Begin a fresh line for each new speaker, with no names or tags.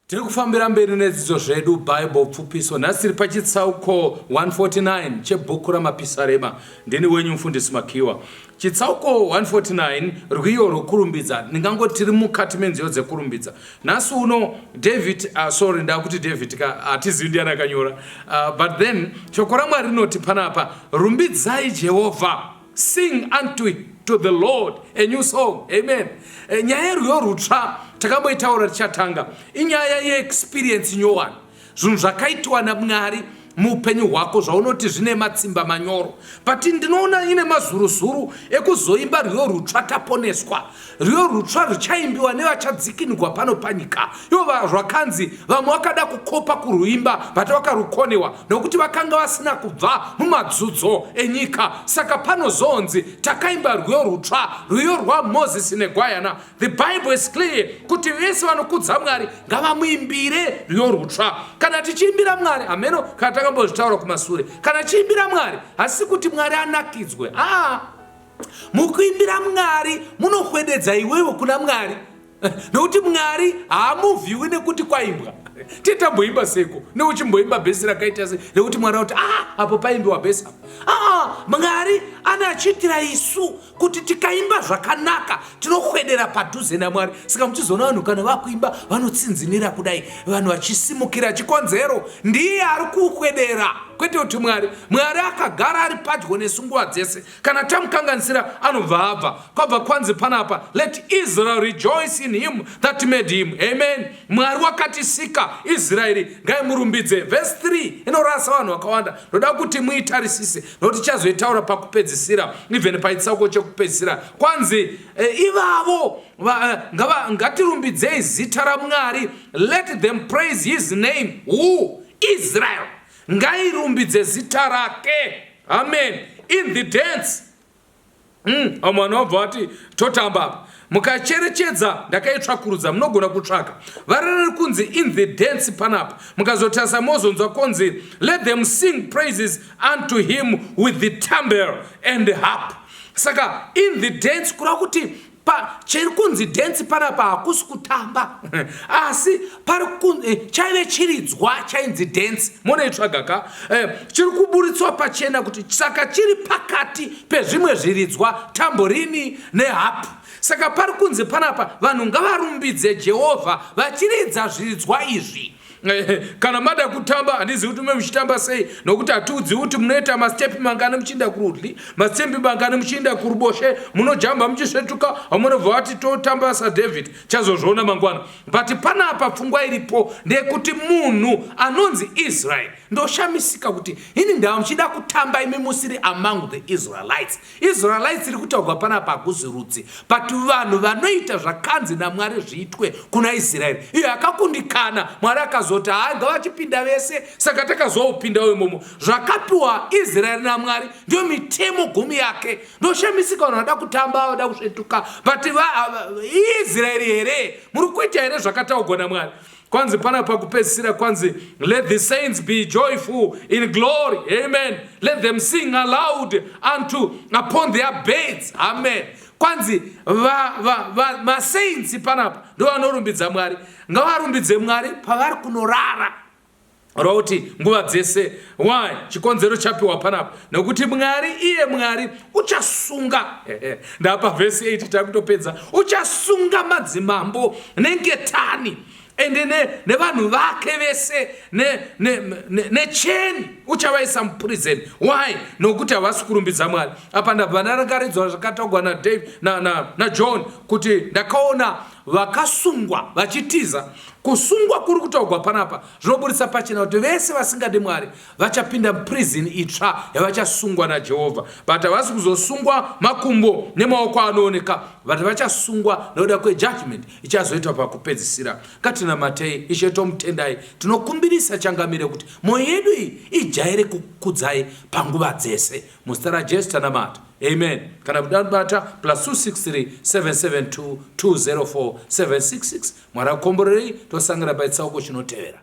tiri kufambira mberi nedzidzo zvedu bible pfupiso nhasi tiri pachitsauko 149 chebhuku ramapisarema ndini wenyu mufundisi makiwa chitsauko 149 rwiyo rwekurumbidza ndingango tiri mukati menziyo dzekurumbidza nhasi uno david uh, sorry ndakuti david ka hatizivi uh, ndiyani akanyora uh, but then shoko ramwari rinoti panapa rumbidzai jehovha Sing unto it to the Lord a new song. Amen. Eh, nyaya yerwiyo rutsva takamboitaura tichatanga inyaya yeexperience nyowani zvinhu zvakaitwa namwari muupenyu hwako zvaunoti zvine matsimba manyoro but ndinoona ine mazuruzuru ekuzoimba rwiyo rutsva taponeswa rwiyo rutsva ruchaimbiwa nevachadzikinigwa pano panyika ivo vazvakanzi vamwe vakada kukopa kurwuimba vati vakarukonewa nokuti vakanga vasina kubva mumadzudzo enyika saka panozonzi takaimba rwiyo rutsva rwiyo rwamozisi negwayana the bible is clear kuti vese vanokudza mwari ngavamuimbire rwiyo rutsva kana tichiimbira mwari hameno kana takambozvitaura kumasure kana tichiimbira mwari hasi kuti mwari anakidzwe aa ah. Mukuimbira Mwari munohwededza iwewe kuna Mwari nokuti Mwari haamuvhiwi nekuti kwaimbwa titamboimba seko neuchimboimba bhesi rakaita se rekuti mwari akuti aa ah, apo paimbiwa bhesi apo aa ah, mwari ane achiitira isu kuti tikaimba zvakanaka tinohwedera padhuze namwari saka muchizoona vanhu kana vakuimba vanotsinzinira kudai vanhu vachisimukira chikonzero ndiye ari kuhwedera kwete kuti mwari mwari akagara ari padyo nesu nguva dzese kana tamukanganisira anobva abva kwabva kwanzi panapa let israel rejoice in him that made him amen mwari wakatisika israeri ngaimurumbidze vhesi 3 inorasa vanhu vakawanda ndoda kuti muitarisise nokuti chazoitaura pakupedzisira even paitsauko chekupedzisira kwanzi e, ivavo eh, ngatirumbidzei zita ramwari let them praise his name who israel ngairumbidze zita rake amen in the dance mm, vamwe vanobva vati totamba apa mukacherechedza ndakaitsvakurudza munogona kutsvaka varereri kunzi in the dance panapa mukazotarisa mozonzwa konzi let them sing praises unto him with the tambel and harp saka in the dance kureva kuti pa chiri kunzi dance panapa hakusi kutamba asi pari kunzi eh, chaive chiridzwa chainzi dance monoitsvaga ka eh, chiri kuburitswa pachena kuti saka chiri pakati pezvimwe zviridzwa tamborini nehapu saka pari kunzi panapa vanhu ngavarumbidze jehovha vachiridza zviridzwa izvi Eh, kana mada kutamba handizivi kuti mume muchitamba sei nokuti hatiudziwi kuti munoita mastepi mangani muchiinda kurudyi mastepi mangani muchiinda kuruboshe munojamba muchisvetuka vamunobva vati totamba sadavid chazozviona mangwana but pana apa pfungwa iripo ndeyekuti munhu anonzi israel ndoshamisika kuti ini ndava muchida kutamba imi musiri among the israelites Israelites iri kutaurwa panapa hakuzi rudzi but vanhu vanoita zvakanzi naMwari zviitwe kuna Israel. Iyo akakundikana Mwari akazoti haa ngavachipinda vese saka takazoupinda uyo momo. Zvakapiwa Israel naMwari ndio mitemo gumi yake. Ndoshamisika vanhu vada kutamba vada kusvetuka but va, Israel here muri kuita here zvakataurwa naMwari. kwanzi pana pakupedzisira kwanzi let the saints be joyful in glory amen let them sing aloud unto upon their beds amen kwanzi masaints panapa ndovanorumbidza mwari ngavarumbidze mwari pavari kunorara rwauti nguva dzese why chikonzero chapiwa panapa nokuti mwari iye mwari uchasunga ndapa vhesi 8 takutopedza uchasunga madzimambo nengetani ende nevanhu ne vake vese necheni ne, ne, uchavaisa muprison why nokuti havasi kurumbidza mwari apa ndabva ndarakaridzwa zvakataugwa najohn na, na, na kuti ndakaona vakasungwa vachitiza kusungwa kuri kutaugwa panapa zvinoburitsa pachena kuti vese vasingadi mwari vachapinda prison itsva yavachasungwa najehovha but havasi kuzosungwa makumbo nemaoko anooneka vati vachasungwa nokuda kwejudgment ichazoitwa pakupedzisira katinamatei ishe tomutendai tinokumbirisa changamire kuti mwoyo yedu iyi ijaire kukudzai panguva dzese muzita rajesu tanamata Amen. Kana kuda bata plus 263772204766 Mwari akomborerei tosangana paitsauko chinotevera.